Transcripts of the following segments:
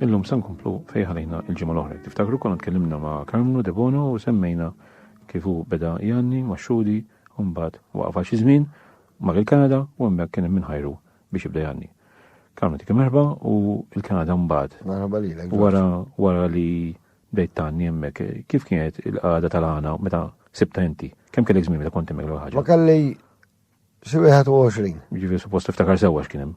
Illum se nkomplu fejn ħalejna l-ġimgħa l-oħra. Tiftakru konna tkellimna ma' Karmnu Debono u semmejna kif hu beda janni ma' xhudi u mbagħad waqaf għal xi żmien mar il-Kanada u hemmhekk kien hemm min ħajru biex jibda janni. Karmnu dik merħba u l-Kanada mbagħad. Merħba lilek. Wara wara li bdejt tanni hemmhekk, kif kienet il-qagħda tal-għana meta sibta inti? Kemm kellek żmien meta kont hemmhekk l ħaġa? Ma kelli xi 21. Ġifieri suppost tiftakar sewwa x'kien hemm.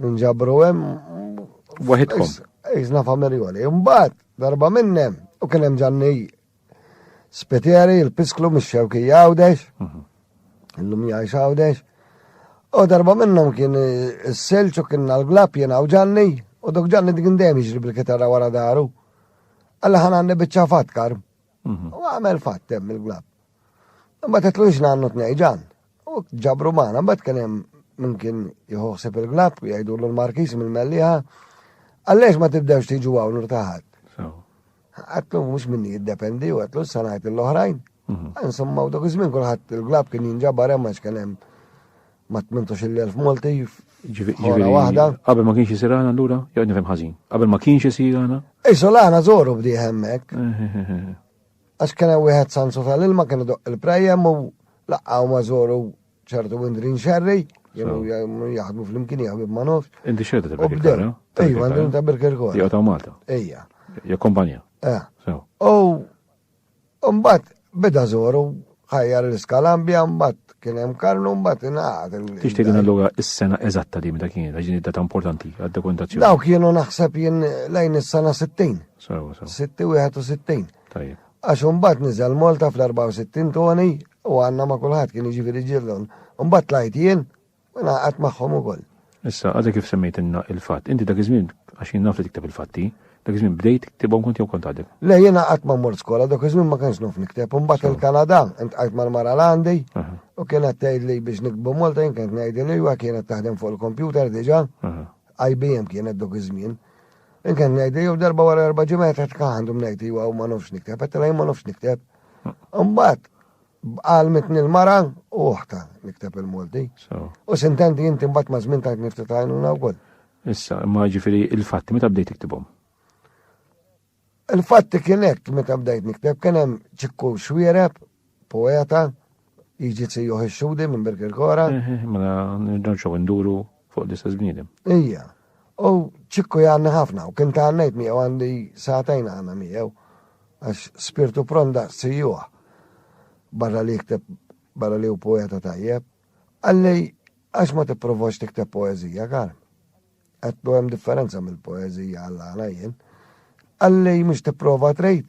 Nġabru hemm. Waħidkom. Iżna familjoli. Imbagħad darba minnem u kien hemm ġanni spiteri, il-pisklu mix-xewki jawdex. Mhm. Illum jgħix għawdex. U darba minnhom kien is-silġ u kien l-glab jien u ġanni u dok ġanni dik dejjem jiġri bil-kitarra wara daru. Alla ħan għandi biċċa fatkar. Mhm. U għamel fattem il-glab. Imma tetlux nannu t-nejġan. U ġabru magħna, mbagħad kien hemm min kien jħoħseb il-glab, jgħidulu l-markis mill-melliħa, għallex ma tibdewx tiġu hawn irtaħat. Għatlu mhux minni jiddependi u għatlu s-sanajt l-oħrajn. Mhm. Insomma, u dak iż-żmien kulħadd il-glab kien jinġabar hemm għax kien hemm ma tmintux il-elf Malti Ġiviri, waħda. Qabel ma kienx jisir għana l-ura, jgħod nifem ħazin. Qabel ma kienx jisir għana. Isu l-għana zoru bdi hemmek. Għax kien hemm wieħed sansu tal-ilma kien idoqq il-prajjem u laqqa' huma żoru ċertu Windrin Xerri, kienu jaħdmu flimkien jaħdmu ma nofx. Inti xerta ta' Birkirkor? Ejja, għandhom ta' Birkirkor. Jew ta' Malta? Ejja. Jew kompanja? Eh. U mbagħad beda żoru Ħajjar l-iskalambja mbagħad kien hemm karnu mbagħad ingħaqad. Tixtieq din allura is-sena eżatta li meta kienet għax data importanti għad-dokumentazzjoni. Dawk kienu naħseb jien lejn is-sena 60. Sewa, sewa. 61. Tajjeb. Għax mbagħad niżel Malta fl-64 toni u għandna ma' kulħadd kien jiġifieri ġillon. Mbagħad tlajt jien U naqat magħhom ukoll. Issa, għadha kif semmejt inna il-fatt, inti dak iż-żmien għax jien naf li tikteb il-fatti, dak iż-żmien bdejt tiktibhom kont jew kont għadek? Le, jien qatt ma mort skola, dak iż-żmien ma kienx naf nikteb, imbagħad il-Kanada intqajt mal-mara l-għandi u kienet tgħidli biex nikbu Malta jien kienet ngħidilha iva kienet taħdem fuq il-kompjuter diġà, IBM kienet dak iż-żmien. Jien kienet ngħidli jew darba wara erba' ġimgħat qed għandhom ngħid iva u ma nafx nikteb, qed ma nafx nikteb. Imbagħad Għallmitni l-mara u oħta nikteb il-Malti. U sintendi inti mbagħad ma' żmien tajt nifti tajnuna wkoll. Issa, imma ġifieri il-fatti meta bdejt tiktibhom? Il-fatti kien hekk meta bdejt nikteb kien hemm ċikku xwiereb, poeta, jiġi tsijuħ ix-xudi minn Birkirkora. Mela nirġgħu nduru fuq l-istess bniedem. Ija. U ċikku jgħanni ħafna, u kien ta' għannejt miegħu għandi satajn għana miegħu, għax spirtu pronda sijuħ, barra li jikteb, barra li u poeta tajjeb. Għalli, għax ma t-provoċ tikteb poezija, kar? Għattu għem differenza mill-poezija għalla għana jien. Għalli, mux t-prova trejt,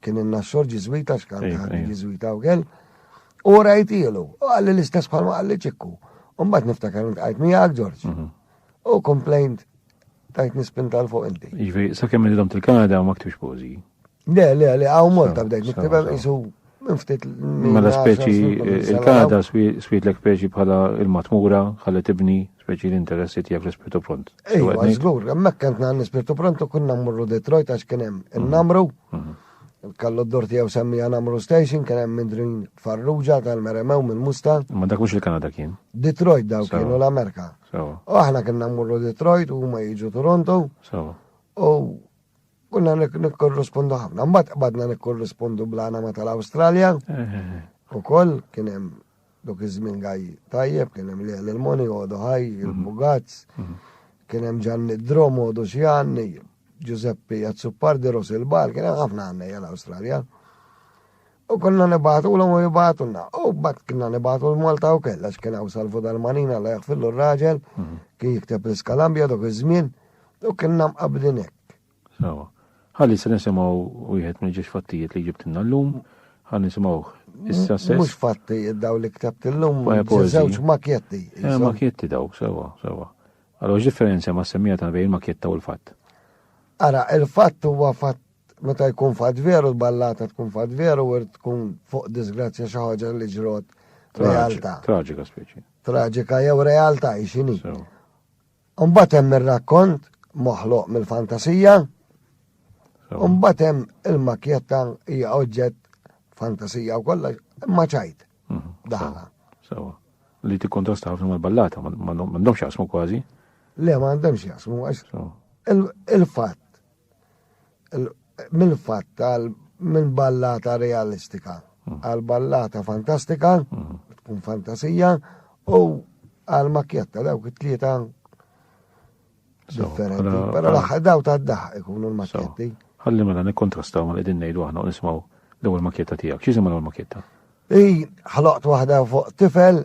Kien in-naxxor ġiżwita x'kant Iva, ħadd iva. ġiżwita wkoll. U rajtielu, u għalli l-istess bħalma għalli ċikku. U mbagħad niftakar li tqajt miegħek Ġorġ. Mhm. U komplejnt tajt nispinta l fuq inti. Jiġifieri sakemm inidhom til-Kanada u ma ktibx pożi. Le, le, le, hawn Malta bdejt niktibha jisu Ftit mela speċi il-kada switlek speċi bħala il-matmura, ħalli tibni speċi l-interessi tiegħek l-ispirtu pront. Ejwa, żgur, hemmhekk kent nagħmel l-ispirtu pront u kunna mmorru Detroit għax kien hemm mhm. in-namru. Mhm. Kallu d-dor tiegħu semmija Namru Station kien hemm mindrin farruġa tal-meremew minn musta Ma dak mhux il-Kanada kien. Detroit daw kienu l-Amerika. U aħna kien nammurru Detroit u huma jiġu Toronto. U Konna nikkorrispondu ħafna, mbagħad qbadna nikkorrispondu bl-anama tal-Awstralja. Ukoll kien hemm dok iż-żmien gaj tajjeb, kien hemm li l-moni għodu ħaj, il-bugazz, kien hemm ġanni d-drom għodu xi għanni, Giuseppe Jazzupardi, Ros il-Bal, kien hemm ħafna għanni għal-Awstralja. U konna nibatu l u jibatu na. U bat konna nibatu l-Malta u kella x'kien għaw salvu dal-manina la jgħafillu r-raġel, kien jikteb l-iskalambja dok iż-żmien, u kien nam qabdinek. Sawa. Ħalli se nisimgħu wieħed minn ġiex fattijiet li ġibtilna llum, ħalli nisimgħuh issa se. Mhux fattijiet daw li ktabt illum, żewġ makjetti. Eh, makjetti daw, sewa, sewa. Allora differenza ma' semmija ta' bejn makjetta u l-fatt. Ara, il-fatt huwa fatt meta jkun fatt veru l-ballata tkun fatt veru u tkun fuq disgrazzja xi ħaġa li ġrot realtà. Traġika speċi. Traġika jew realtà x'inhi. Imbagħad hemm ir-rakkont moħloq mill-fantasija. Imbagħad hemm il-makjetta hija oġġett fantasija u kollox, imma ċajt. Mhm. Daħla. Sawa. Li tikkontrasta ħafna mal-ballata, ma għandhomx jasmu kważi. Le, ma għandhomx jasmu, għax il-fatt Minn fatt għal minn ballata realistika mm. għal ballata fantastika, mm. tkun fantasija, u għal makjetta dawk it-tlieta differenti. Pero l-aħħar daw ta' daħ ikunu l-makjetti. Ħalli mela nikkontrastaw ma qegħdin ngħidu aħna u nismaw l-ewwel makjetta tiegħek. X'jisimha l-ewwel makjetta? Ej, ħloqt waħda fuq tifel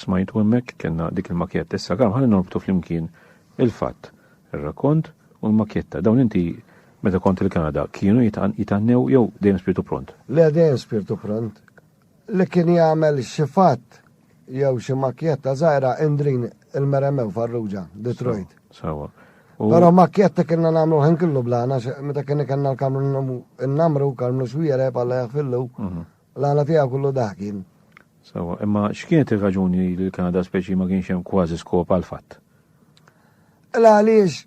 smajtu hemmhekk kellna dik il-makjetta issa kemm ħalli norbtu flimkien il-fatt, ir-rakont u l-makjetta. Dawn inti meta kont il-Kanada kienu jitannew jew dejjem spirtu pront? Le dejjem spirtu pront. li kien jagħmel xi fatt jew xi makkjetta żgħira indrin il-Meremew Farrugia, Detroit. Sawa. Però makkjetta kienna nagħmlu ħin kollu blana, meta kien kellna l-kamru n-namru, kamru xwiere, bħala jaħfillu, mhm. l-għana tiegħu kollu daħkin. Sawa, imma x'kienet ir-raġuni li l-Kanada speċi ma kienx hemm kważi skop għal fatt? L-għaliex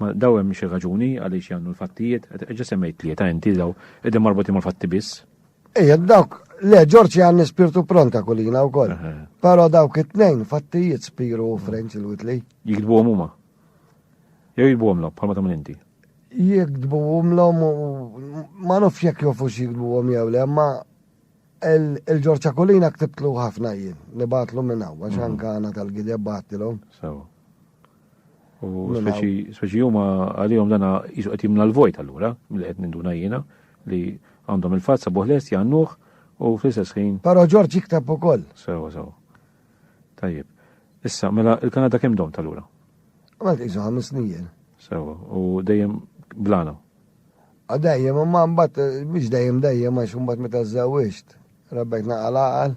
Ma daw hemm xi raġuni għaliex jgħannu l-fattijiet, qed eġa' semmejt tlieta inti daw qegħdin marbutin mal-fatti biss. Ejja dawk, le Ġorġ jgħanni spirtu pronta kulina wkoll. Però dawk it-tnejn fattijiet spiru u Frenċ il-Witli. Jikdbuhom huma. Jew jikdbuhom lok bħalma tagħmel inti. Jikdbuhom lhom ma nofx jekk jofu x'jikdbuhom jew le, ma il-Ġorġa Kulina ktibtlu ħafna jien, nibatlu minn hawn, għax anka għana tal-gideb batilhom. Sewa. U speċi huma għalihom dana jisu qed jimla l-vojt allura li qed ninduna jiena li għandhom il-fatt sabuħ lest jgħannuh u fl-istess ħin. Però Ġorġ jikteb ukoll. Sewa sewa. Tajjeb. Issa, mela il-Kanada kemm dom tal-ura? Għal iżu ħames snin. Sewa, u dejjem blana. A dejjem, ma mbagħad biex dejjem dejjem għax mbagħad meta żewwiġt, rabbek naqal għal.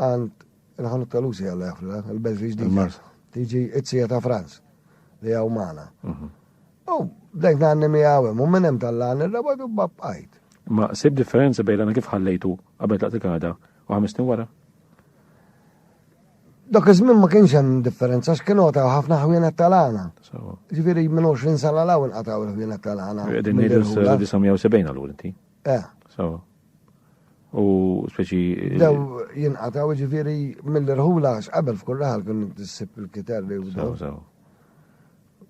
Għand il-ħanut tal-usi għalla jafla, il-Belġi ġdida. Tiġi it-sija ta' Franz li għaw maħna. Mhm. U dajt naħni mi għawem, u minnem tal-lan il-rabadu b'bqajt. Ma sib differenza bejn għana kif ħallejtu għabed laqt il-Kanada u ħamisni wara? Dok iż-żmien ma kienx hemm differenza x'kienu ta' ħafna ħwienet tal-għana. Ġifieri minn 20 sena l-hawn qataw il-ħwienet tal-għana. Qegħdin ngħidu 1970 għal inti. Eh. Sawa. U speċi. Dew jinqataw ġifiri mill-irħula qabel f'kull raħal kien tissib il-kiter li jibdu. Sawa, sawa.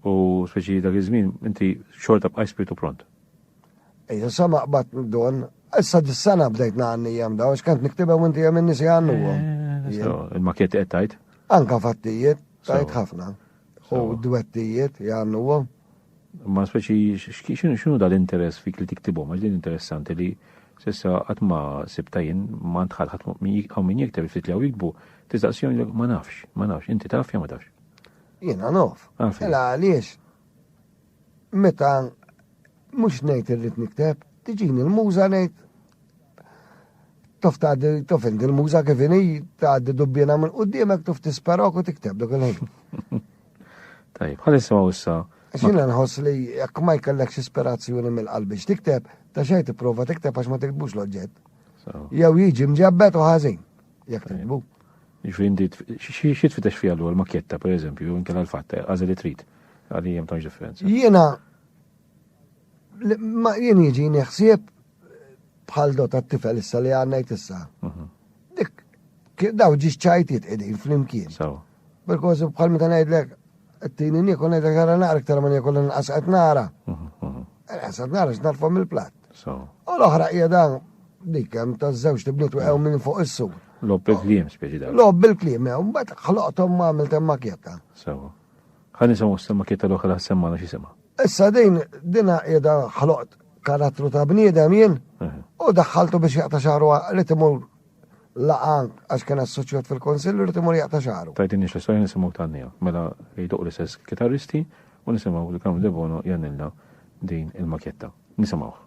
U speċi dak iż-żmien inti xorta bqaj spiritu pront. Ejja, sa ma qbad don, issa dis-sena bdejt naqanni jem daw, xkant niktibha u inti jem innisi għannu. Eh, Il-makiet qed tajt? Anka fattijiet, tajt ħafna. U dwettijiet jgħannu għom. Ma speċi x'kienu x'inhu dal-interess fik li tiktibhom għax din interessanti li s'issa qatt ma sibta jien ma ntħall ħadd hawn min jikteb ftit li hawn jiktbu tistaqsihom jgħidlek ma nafx, ma nafx, inti taf jew ma tafx? Jiena naf. Mela għaliex meta mhux ngħid irrid nikteb, tiġini l-muża ngħid tof tgħaddi tof inti l-muża kif inhi tgħaddi dubbina minn qudiemek tof tisperok u tikteb dak il-ħin. Tajb, ħalli nisimgħu issa. Xina nħoss li jekk ma jkellekx ispirazzjoni mill-qalbi x'tikteb, ta' xejn tipprova tikteb għax ma tiktbux l-oġġett. Jew jiġi mġebbet u ħażin jekk tiktbu. Ġifindi, xie tfitex fija l-għol makjetta, per eżempju, jew inkella l-fatta, għazeli trit, għalli jem tanġ differenza. Jena, ma jien jiġi neħsieb bħal dot għat-tifel issa li għanna jtissa. Mhm. Dik, daw ġiġ ċajtiet edin fl-imkien. Bil-kosi bħal meta ngħidlek t-tini nikol ngħidlek nara naqra iktar ma nikol inqas qed nara. Inqas qed nara x'narfa mill-platt. U l-oħra hija dan dik hemm ta' żewġ tibniet weqgħu minn fuq is-sur. Lob bil-kliem speċi dan. Lob bil-kliem, jew mbagħad ħloqthom ma għamilt hemm makjetta. Sewa. Ħa nisimgħu s-makjetta l-oħra semma xi sema. Issa din dina qiegħda ħloqt karattru ta' bniedem jien u daħħaltu biex jaqta' xahru li timur laqgħa għax kien assoċjat fil-Kunsill irid imur jaqta' xagħru. Tgħidilniex l-istorja nisimgħu tgħanniha. Mela jduq l-istess kitarristi u nisimgħu lil Carmine Debono jgħannilna din il-makjetta. Nisimgħuh.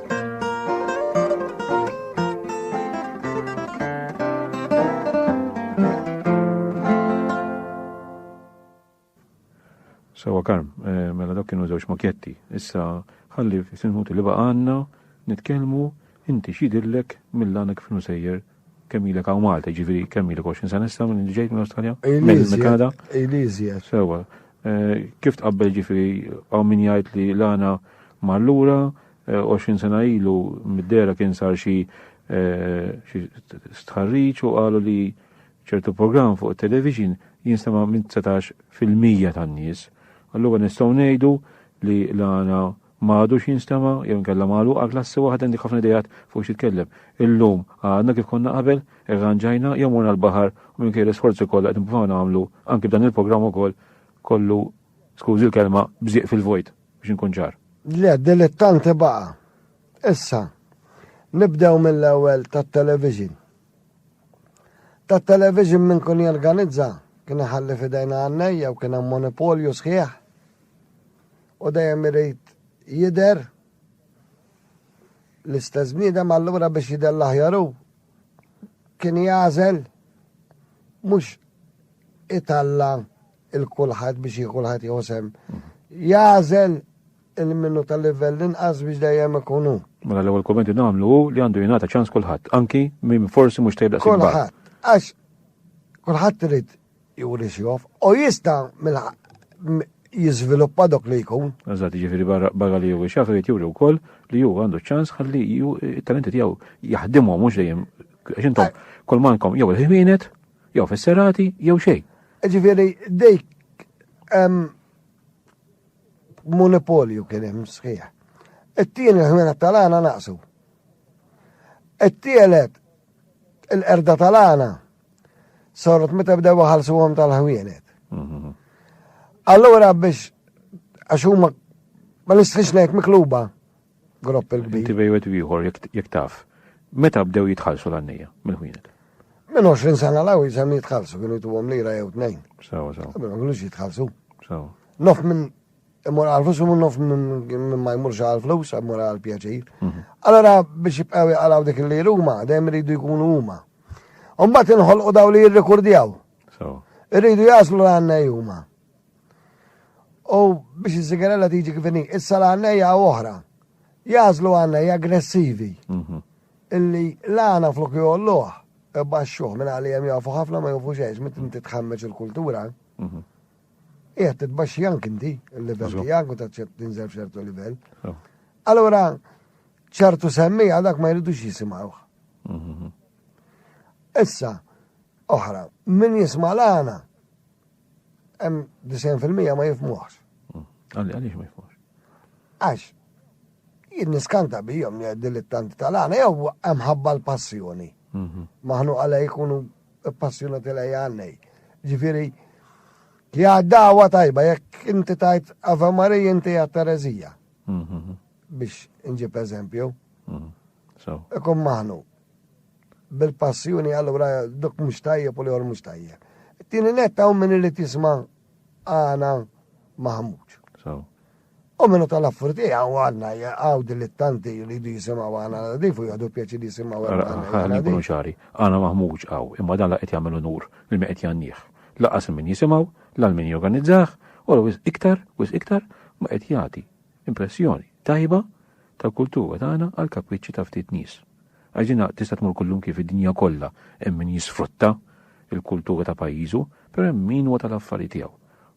Sewa karm, eh, mela dak kienu żewġ makjetti. Issa ħalli f'sinħut li baqa' għandna nitkellmu inti x'jidillek mill-għanek f'nu sejjer Kemm ilek hawn Malta, ġifieri kemm ilek 20 sena issa minn ġejt minn Awstralja? Minn Kanada? Ejliżja. Sewa. Eh, kif tqabbel ġifieri hawn min jgħid li l-għana mallura 20 eh, sena ilu mid-dera kien sar xi eh, stħarriċ u qalu li ċertu program fuq television jinsema minn 19 fil-mija tan-nies. Allura nistgħu ngħidu li l-għana Ma għadux jinstema' jew inkella magħluqa klassi waħda għandek ħafna ideat fuq x'titkellem. Illum għadna kif konna qabel, irranġajna jew morna l-baħar u minkejja l-isforzi kollha qed nippruvaw nagħmlu anki b'dan il-programm ukoll kollu, skużi l-kelma, bżieq fil-vojt, biex inkun ċar. Le, dilettanti baqa'. Issa, nibdew mill-ewwel tat-television. Tat-television min kun jorganizza kien iħalli f'idejn għannejja u kien hemm monopolju sħiħ. U dejjem irid jidher l-istess bniedem allura biex jidher l-aħjar hu kien jagħżel mhux italla il-kulħadd biex jieħu kulħadd jieħu sem. Jagħżel il-minnu tal-livell inqas biex dejjem ikunu. Mela l-ewwel kommenti nagħmlu hu li għandu jingħata ċans kulħadd, anki minn forsi mhux tejb daqs Kulħadd, għax kulħadd irid juri xjof, u jista jizviluppa dok li jkun. Għazat ġifiri barra li juri xaf, jrid juri u koll li ju għandu ċans għalli ju talenti tijaw jahdimu mux dejjem. Xintom, eh. kol mankom jew il-ħwienet, jew fis-serati, jew xej. Ġifiri, dejk monopolju kien hemm sħiħ. It-tieni l-ħwienet tal-għana naqsu. It-tielet il-qerda tal-għana Saret meta bdew waħalsuhom tal-ħwienet. Mhm. Allura biex għax huma ma nistħix ngħid mikluba gropp il-kbir. Inti bejwet ieħor jekk taf. Meta bdew jitħallsu l-għannija mill-ħwienet? Minn 20 sena l-għaw jisem jitħallsu, kienu jtu għom lira jew tnejn. Sawa, sawa. Ma kienux jitħallsu. Sawa. Nof minn Immur għal-flus, immur nof minn ma jmurx għal-flus, immur għal-pjaċir. Mhm. Allora biex jibqaw jgħalaw dik li ruma, dejjem rridu jkunu huma. Umbat inħolqu daw li jirrekordjaw. Irridu jaslu l-għanna juma. U biex iż-sigarella tiġi kifini, issa l-għanna hija oħra. Jaslu għanna hija aggressivi. Mhm. Illi l-għana flok jolluħ, baxxuħ minn għalli jem jafu ħafna ma jafu xeġ, mit inti tħammeġ il-kultura. Mhm. Qiegħed titbaxxi anki inti l-livell tiegħek u taċċett tinżel f'ċertu livell. Oh. Allura ċertu semmi għadak ma jridux jisimgħuh. Mhm. Issa, oħra, min jisma' l-għana, hemm 90% ma jifmuħx. Mm. Għalli, għalli ma jifmuħx. Għax, jien niskanta bijom li għeddi li tant tal-għana, jew hemm ħabba l-passjoni. Mhm. Maħnu għalaj jkunu Passjonati lejja għannej. Ġifiri, li għaddawa tajba, jekk inti tajt Ave Marija inti għat Terezija. Mhm. Biex nġib eżempju. Mhm. Ikun maħnu. Bil-passjoni għallura duk mux tajjeb u li għor mux tajjeb. Tini netta un minni li tisma Għana maħmuġ. U minnu tal-affur tiegħu għandna għaw dilettanti li jdu jisimgħu għana nadif u jgħadu pjaċi li jisimgħu għana nadif. Għana nkunu ċari, għana maħmuġ għaw, imma dan la qed jagħmel unur li ma qed jannieh. Laqas min jisimgħu, l min jorganizzaħ, u l iktar, wis iktar, ma qed jagħti Impressjoni tajba tal-kultura tagħna għall-kapriċċi ta' ftit nies. Għax din tista' tmur kullum kif id-dinja kollha hemm min jisfrutta l-kultura ta' pajjiżu, però hemm min huwa tal-affari tiegħu.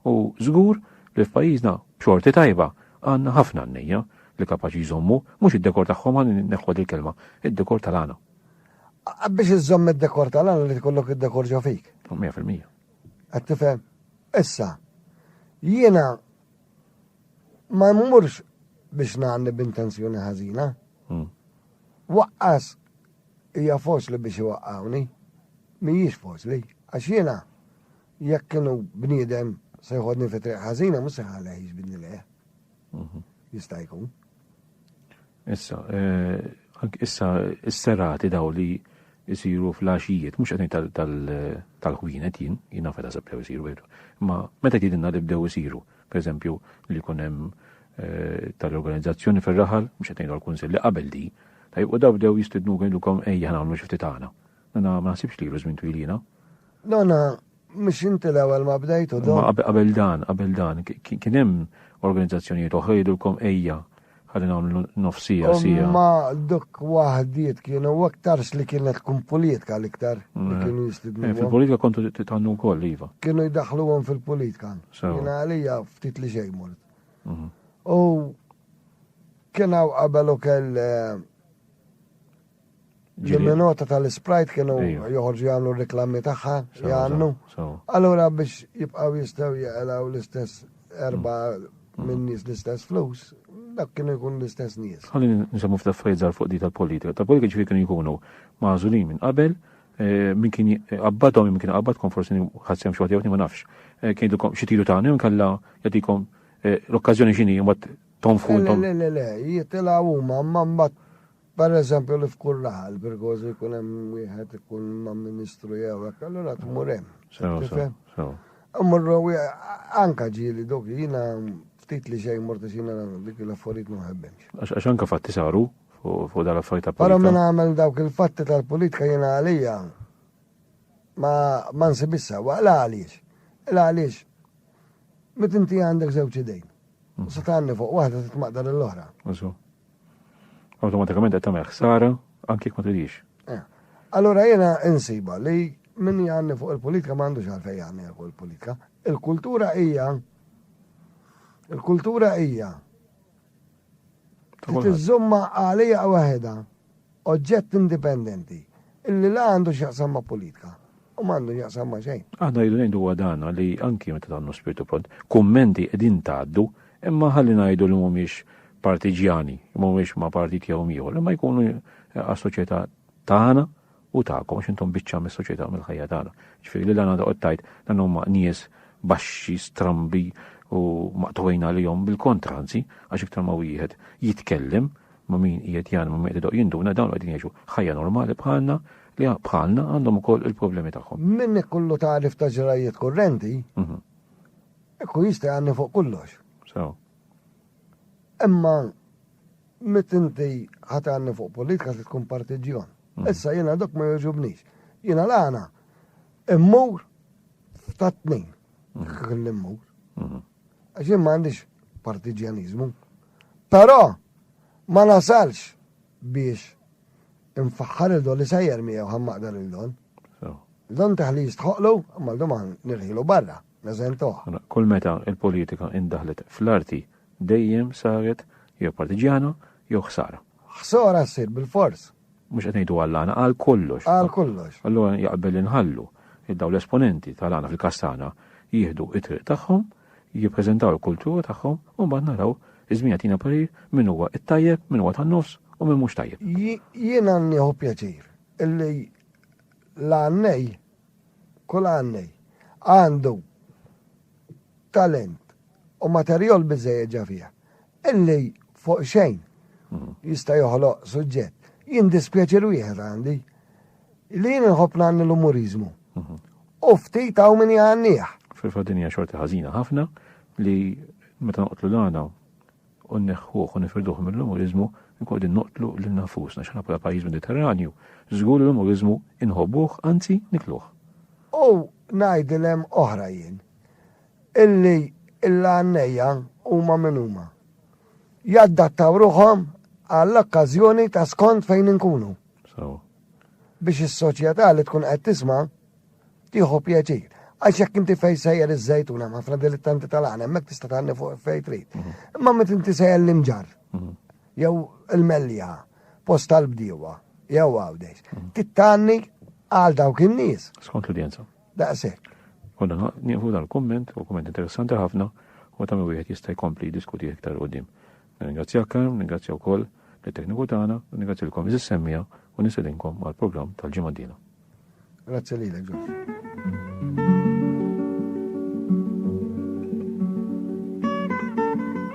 U żgur li f'pajjiżna b'xorti tajba għandna ħafna għannejja li kapaċi jżommu mhux id-dekor tagħhom ħa neħħuha dil-kelma, id-dekor tal-għana. Biex iżżomm id-dekor tal-għana li tkollok id-dekor ġo fik. 100%. Qed tifhem? Issa, jiena Ma mmurx biex ngħanni b'intenzjoni ħażina. Hmm. Waqqas hija foċli biex iwaqqawni, mhijiex foċli, għax jiena jekk kienu bniedem se jħodni fi triq ħażina mhux se ħalli ħiġ bidni leħ. Mhm. Jista' jkun. Issa, eh, issa s-serati daw li jisiru fl-għaxijiet, mux għetni tal-ħwienet jien, jien għafet għasab bdew jisiru veru. Ma meta jtidinna li bdew jisiru, per eżempju, li kunem eh, tal-organizzazzjoni fil-raħal, mux għetni għal-kunsil li qabel di, ta' u daw bdew jistidnu għindukom ejja għamlu xifti taħna. Nana ma nasibx li jruż minn twilina. Nana Mhux inti l-ewwel ma bdejtu do. Ma qabel dan, qabel dan, kien hemm organizzazzjonijiet oħra jgħidulkom ejja ħalli nagħmlu nofsija sija. Ma dok waħdiet kienu aktarx li kienet tkun politika l-iktar li eh, kienu jistidnu. Eh, fil-politika kontu titgħannu wkoll iva. Kienu jdaħluhom fil-politika. Jiena għalija ftit li xejn mort. Mhm. U kien hawn qabel ukoll eh, L-minota tal-Sprite kienu joħorġu jagħmlu r-reklammi tagħha jgħannu. Allura biex jibqgħu jistgħu jaqlaw l-istess erba' mm. minn nies l-istess flus, dak kienu jkun l-istess nies. Ħalli nisamu f'taffajzar fuq di tal-politika. Tal-politika ġifi kienu jkunu mażulin minn qabel, eh, minn kien qabbadhom minn kien qabbadkom forsi ħadsem xi waħda ma nafx. Eh, kien jidilkom xi tiru tagħna jew kalla jagħtikom eh, l-okkażjoni x'inhi mbagħad tonfu. Le le le, jitilgħu huma mbagħad Pereżempju li f'kull laqa l-Birgożi jkun hemm wieħed ikun ma' Ministru jew hekk, allura tmur hemm. Sew, sew, sew. Immorru anka ġieli dok jiena ftit li xejn mort għax jiena dik l-affarijiet ma nħebbhemx. Għax anka fatti saru fuq dan l-affarijiet ta' politika. Però min għamel dawk il-fatti tal-politika jiena għalija ma nsibhiex sewwa. La għaliex? La għaliex meta inti għandek żewġ idejn, u se tgħanni fuq waħda titmaqdar lill-oħra. Awtomatikament qed tagħmel ħsara anke jekk ma tridix. Eh, allura jiena insiba li min jgħanni fuq il-politika ma għandux għalfej jgħanni fuq il-politika. Il-kultura hija il-kultura hija tiżżumma għalija waħedha Oġġett indipendenti, illi la għandu x'jaqsam ma' politika u m'għandu x'jaqsam ma' xejn. Aħna rridu ngħidu huwa dan li anki meta tagħmlu spirtu pront, kummenti qegħdin tgħaddu, imma ħalli ngħidu li mhumiex partiġjani, mhumiex ma' partit jew m'ieħor, imma jkunu għas-soċjetà tagħna u tagħkom għax intom biċċa mis-soċjetà mill-ħajja tagħna. Ġifieri li l-għana toqgħod tgħid dan huma nies baxxi, strambi u maqtugħin għalihom bil-kontra anzi għax iktar ma wieħed jitkellem ma' min qiegħed jgħallem u min qiegħed idoqq jinduna, dawn qegħdin jgħixu ħajja normali bħalna li bħalna għandhom ukoll il-problemi tagħhom. Minnek kullu tagħrif ta' ġrajjiet kurrenti, ikun jista' jgħanni fuq kollox. Sew. Imma mit inti ħat għanni fuq politika se tkun partiġjon. Issa jiena dok ma jogħġobnix. Jiena l-għana immur ta' tnejn. Immur. Għax jien ma għandix partiġjaniżmu. Però ma nasalx biex infaħħar il don li sejjer miegħu ħan maqdar il don. Don taħli jistħoqlu, ma l doman nirħilu barra, neżentuħ. Mela, kull meta il-politika indaħlet fl-arti dejjem saret jew partiġjana jew ħsara. Ħsara ssir bil-fors. Mhux qed ngħidu għall-għana, għal kollox. Għal kollox. Allura jaqbel li nħallu li dawn l-esponenti tal-għana fil-każ tagħna jieħdu t-triq tagħhom, jippreżentaw il-kultura tagħhom u mbagħad naraw iż-żmien jagħtina parir min huwa t-tajjeb, min huwa tan-nofs u min mhux tajjeb. Jiena nieħu pjaċir illi l-għannej, kull għannej, għandu talent u materjol biżejjed ġa fija. Illi fuq xejn jista' joħloq suġġett. Jien dispjaċir wieħed għandi, li jien inħobb ngħanni l-umuriżmu. U ftit hawn min jgħannih. Fil-fatt din hija xorti ħażina ħafna li meta noqtlu l-għana u nneħħuh u nifirduh mill-umuriżmu, nkun qegħdin noqtlu lil nafusna x'aħna bħala pajjiż Mediterranju, żgur l-umuriżmu inħobbuh, anzi nikluh. U ngħid il-hemm oħra jien. Illi l-għannejja huma min huma. Jaddattaw ruħhom għall-okkażjoni ta' skond fejn inkunu. Sewwa. Biex is-soċjetà li tkun qed tisma' tieħu pjaċir. Għax jekk inti fejn sejjer iż-żejtun hemm ħafna dilittanti tal-għan hemmhekk tista' tgħanni fuq fejn trid. Mhm. Imma meta inti sejjer l-imġar mhm. jew il-mellja post tal-bdiewa jew għawdex. Mhm. Tittanni għal dawk in-nies. Skont l-udjenza. daqshekk. U dan nieħu dal-kumment, u kumment interessanti ħafna, u ta' wieħed jista' jkompli jiddiskuti iktar qudiem. Ningrazzjak Karm, ningrazzja wkoll lit-tekniku tagħna, u ningrazzjilkom iżis semmija u nisedinkom għall-programm tal-ġimgħa d-dila. Grazzi lilek, Ġorġ.